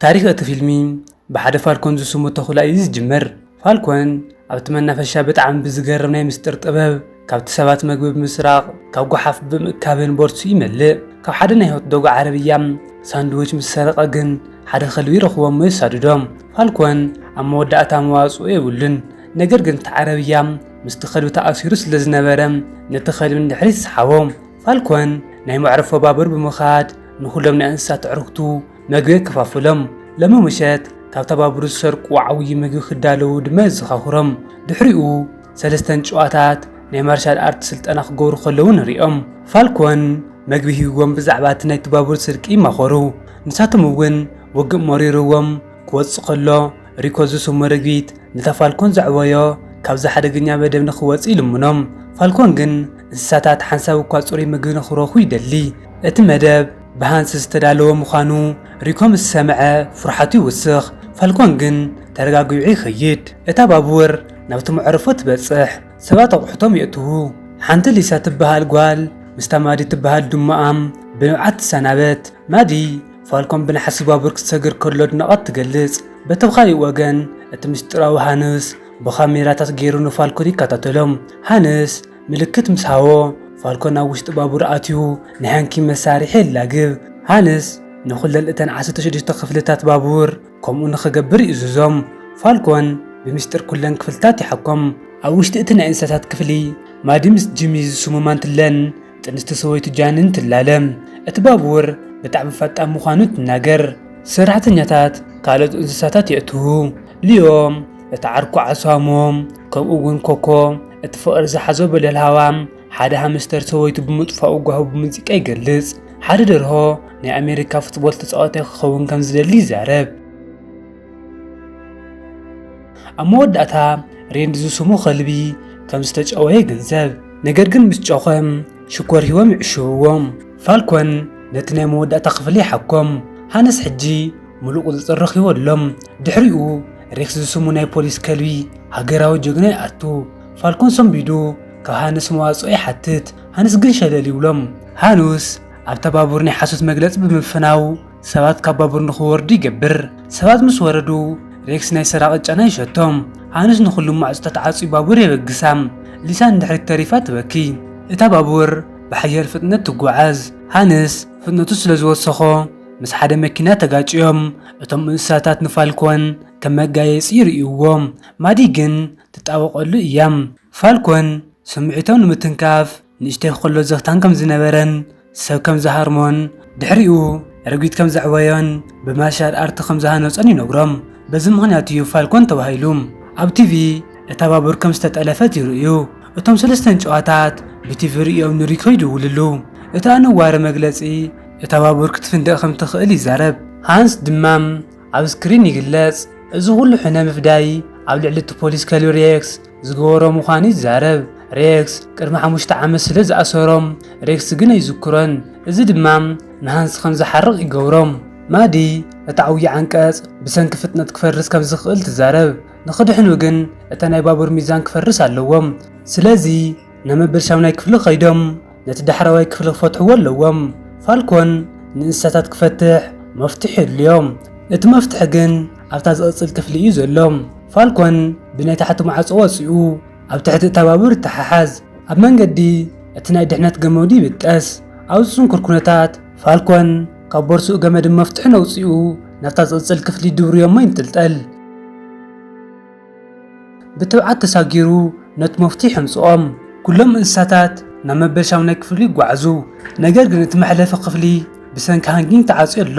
ታሪኽ እቲ ፊልሚ ብሓደ ፋልኮን ዝስሙ ተኹላ እዩ ዝጅምር። ፋልኮን ኣብቲ መናፈሻ ብጣዕሚ ብዝገርም ናይ ምስጢር ጥበብ ካብቲ ሰባት መግቢ ብምስራቕ ካብ ጎሓፍ ብምእካብን ቦርትሱ ይመልእ። ካብ ሓደ ናይ ሆትዶግ ዓረብያ ሳንድዊች ምስ ሰረቐ ግን ሓደ ከልቢ ይረኽቦ እሞ የሳድዶ። ፋልኮን ኣብ መወዳእታ መዋጽኦ የብሉን ነገር ግን እቲ ዓረብያ ምስቲ ከልቢ ተኣሲሩ ስለ ዝነበረ ነቲ ከልቢ ንድሕሪት ይስሓቦ። ፋልኮን ናይ መዕርፎ ባቡር ብምኻድ ንኹሎም ናይ እንስሳት ኣዕሩኽቱ መግቢ የከፋፍሎም። ለሚ ምሸት ካብ ተባብሩ ዝሰርቁ ዓብዪ ምግቢ ክዳለዉ ድማ የዘኻኽሮም። ድሕሪኡ ሰለስተን ጨዋታት ናይ ማርሻል ኣርት ስልጠና ክገብሩ ከለዉ ንሪኦም። ፋልኮን መግቢ ሂብዎም ብዛዕባ እቲ ናይ ተባብሩ ስርቂ ይማኸሩ። ንሳቶም እውን ውግእ መሪርዎም ክወጽ ከሎ ሪኮ ዝስሙ ርግቢት ነታ ፋልኮን ዘዕበዮ ካብዚ ሓደገኛ መደብ ንክወጽእ ይልምኖም። ፋልኮን ግን እንስሳታት ሓንሳብ እኳ ጽሩይ ምግቢ ንኽረኽቡ ይደሊ። እቲ መደብ ብሃንስ ዝተዳለወ ምዃኑ ሪኮ ምስ ሰምዐ ፍርሓቱ ይውስኽ፣ ፋልኮን ግን ተረጋጊዑ ይኸይድ። እታ ባቡር ናብቲ መዕርፎ ትበጽሕ፣ ሰባት ኣቑሑቶም የእትዉ። ሓንቲ ሊሳ ትበሃል ጓል ምስታ ማዲ ትበሃል ድሙኣም ብንብዓት ትሰናበት። ማዲ፣ ፋልኮን ብናሕሲ ባቡር ክሰግር ከሎ ኣድናቖት ትገልጽ። በቲ ብኻሊእ ወገን እቲ ምስጢራዊ ሃንስ ብኻሜራታት ገይሩ ንፋልኮን ይከታተሎም። ሃንስ ምልክት ምስ ሃቦ፣ ፋልኮን ኣብ ውሽጢ ባቡር ኣትዩ ንሕንኪ መሳርሒ የላግብ። ሃንስ ንዅለን እተን ዓሰርተ ሽዱሽተ ክፍልታት ባቡር ከምኡ ንኽገብር ይእዝዞም። ፋልኮን ብምስጢር ኵለን ክፍልታት ይሓኮም። ኣብ ውሽጢ እቲ ናይ እንስሳታት ክፍሊ፣ ማዲ ምስ ጂሚ ዝስሙ ማንትለን ጥንስቲ ሰበይቱ ጃንን ትላለ። እቲ ባቡር ብጣዕሚ ፈጣን ምዃኑ ትናገር። ሰራሕተኛታት ካልኦት እንስሳታት የእትዉ። ሊዮም እቲ ዓርኩ ዓሳሞ ከምኡ እውን ኮኮ እቲ ፍቕሪ ዝሓዞ በለል ሃዋም ሓደ ሃምስተር ሰበይቱ ብምጥፋኡ ጓሁ ብሙዚቃ ይገልጽ። ሓደ ደርሆ ናይ ኣሜሪካ ፉትቦል ተጻዋታይ ክኸውን ከም ዝደሊ ይዛረብ። ኣብ መወዳእታ ሬንድ ዝስሙ ከልቢ ከም ዝተጨወ ይግንዘብ፣ ነገር ግን ምስ ጨኾም ሽኮር ሂቦም ይዕሽውዎም። ፋልኮን ነቲ ናይ መወዳእታ ክፍሊ ይሓኮም፣ ሃነስ ሕጂ ምሉእ ቁጽጽር ረኺቡ ኣሎ። ድሕሪኡ ሬክስ ዝስሙ ናይ ፖሊስ ከልቢ ሃገራዊ ጀግና ይኣቱ ፋልኮን ሰንቢዱ ካብ ሃንስ መዋጽኦ ይሓትት ሃንስ ግን ሸለል ይብሎም ሃኑስ ኣብታ ባቡር ናይ ሓሶት መግለጺ ብምፍናው ሰባት ካብ ባቡር ንክወርዱ ይገብር ሰባት ምስ ወረዱ ሬክስ ናይ ሰራቂ ጨና ይሸቶም ሃኑስ ንኩሉ ማዕጾታት ዓጽዩ ባቡር የበግሳ ሊሳ ንድሕሪት ተሪፋ ትበኪ እታ ባቡር ብሓያል ፍጥነት ትጓዓዝ ሃንስ ፍጥነቱ ስለ ዝወሰኾ ምስ ሓደ መኪና ተጋጭዮም እቶም እንስሳታት ንፋልኮን ከም መጋየጺ ይርእይዎ። ማዲ ግን ትጣበቐሉ እያ። ፋልኮን ስምዒቶም ንምትንካፍ ንእሽተይ ኮሎ ዘኽታም ከም ዝነበረን ሰብ ከም ዝሃርሞን ድሕሪኡ ረጒድ ከም ዘዕበዮን ብማርሻል ኣርት ከም ዝሃነጾን ይነግሮም። በዚ ምኽንያት እዩ ፋልኮን ተባሂሉ። ኣብ ቲቪ እታ ባቡር ከም ዝተጠለፈት ይርእዩ። እቶም ሰለስተ እንጭዋታት ብቲቪ ርእዮም ንሪኮ ይድውልሉ። እቲ ኣነዋሪ መግለጺ እታ ባቡር ክትፍንድቕ ከም እትኽእል ይዛረብ። ሃንስ ድማ ኣብ ስክሪን ይግለጽ። እዚ ዅሉ ሕነ ምፍዳይ ኣብ ልዕሊ እቲ ፖሊስ ከልቢ ሬክስ ዝገበሮ ምዃኑ ይዛረብ። ሬክስ ቅድሚ ሓሙሽተ ዓመት ስለ ዝኣሰሮ፣ ሬክስ ግን ኣይዝክሮን፣ እዚ ድማ ንሃንስ ከም ዝሓርቕ ይገብሮ። ማዲ ነቲ ዓብዪ ዓንቀጽ ብሰንኪ ፍጥነት ክፈርስ ከም ዝኽእል ትዛረብ። ንኽድሕኑ ግን እቲ ናይ ባቡር ሚዛን ክፈርስ ኣለዎም። ስለዚ ነመበል ሻምናይ ክፍሊ ከይዶም ነቲ ዳሕረዋይ ክፍሊ ክፈትሕዎ ኣለዎም። ፋልኮን ንእንስሳታት ክፈትሕ መፍትሕ የድልዮ። እቲ መፍትሕ ግን ኣብታ ዝቕጽል ክፍሊ እዩ ዘሎ። ፋልኮን ብናይ ታሕቲ ማዕጾ ወጺኡ ኣብ ትሕቲ እታ ባቡር ይተሓሓዝ። ኣብ መንገዲ እቲ ናይ ድሕነት ገመዱ ይብጠስ። ኣብዚ ጽንኩር ኩነታት ፋልኮን ካብ ቦርሱኡ ገመድን መፍትሕን ኣውጺኡ ናብታ ዝቕጽል ክፍሊ ድብርዮሞ ይንጥልጠል። ብትብዓት ተሳጊሩ ነቲ መፍቱሕ የምጽኦም። ኩሎም እንስሳታት ናብ መበል ሻሙናይ ክፍሊ ይጓዓዙ፣ ነገር ግን እቲ መሕለፊ ክፍሊ ብሰንኪ ሃንጊንግ ተዓጽዩ ኣሎ።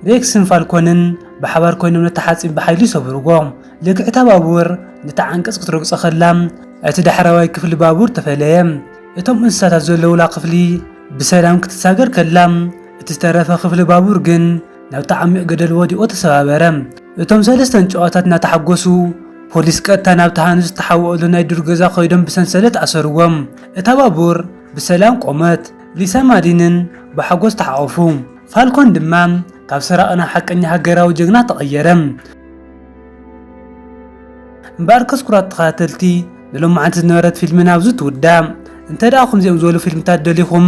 ሬክስን ፋልኮንን ብሓባር ኰይኖም ነቲ ሓጺን ብሓይሊ ይሰብርዎ። ልክዕ እታ ባቡር ነቲ ዓንቀጽ ክትረግጾ ኸላ፣ እቲ ዳሕረዋይ ክፍሊ ባቡር ተፈለየ። እቶም እንስሳታት ዘለዉላ ክፍሊ ብሰላም ክትሳገር ከላ፣ እቲ ዝተረፈ ክፍሊ ባቡር ግን ናብቲ ዓሚቕ ገደል ወዲቑ ተሰባበረ። እቶም ሰለስተ ንጨዋታት እናተሓጎሱ፣ ፖሊስ ቀጥታ ናብቲ ሃንዝ ዝተሓወኡሉ ናይ ዱር ገዛ ከይዶም ብሰንሰለት ኣሰሩዎም። እታ ባቡር ብሰላም ቆመት። ሊሳን ማዲንን ብሓጎስ ተሓቖፉ። ፋልኮን ድማ ካብ ሰራቒ ናብ ሓቀኛ ሃገራዊ ጀግና ተቐየረ። እምበኣር ከስኩራት ተኸታተልቲ ንሎማዓንቲ ዝነበረት ፊልምና ኣብዚ ትውዳእ። እንተደኣ ከምዚኦም ዝበሉ ፊልምታት ደሊኹም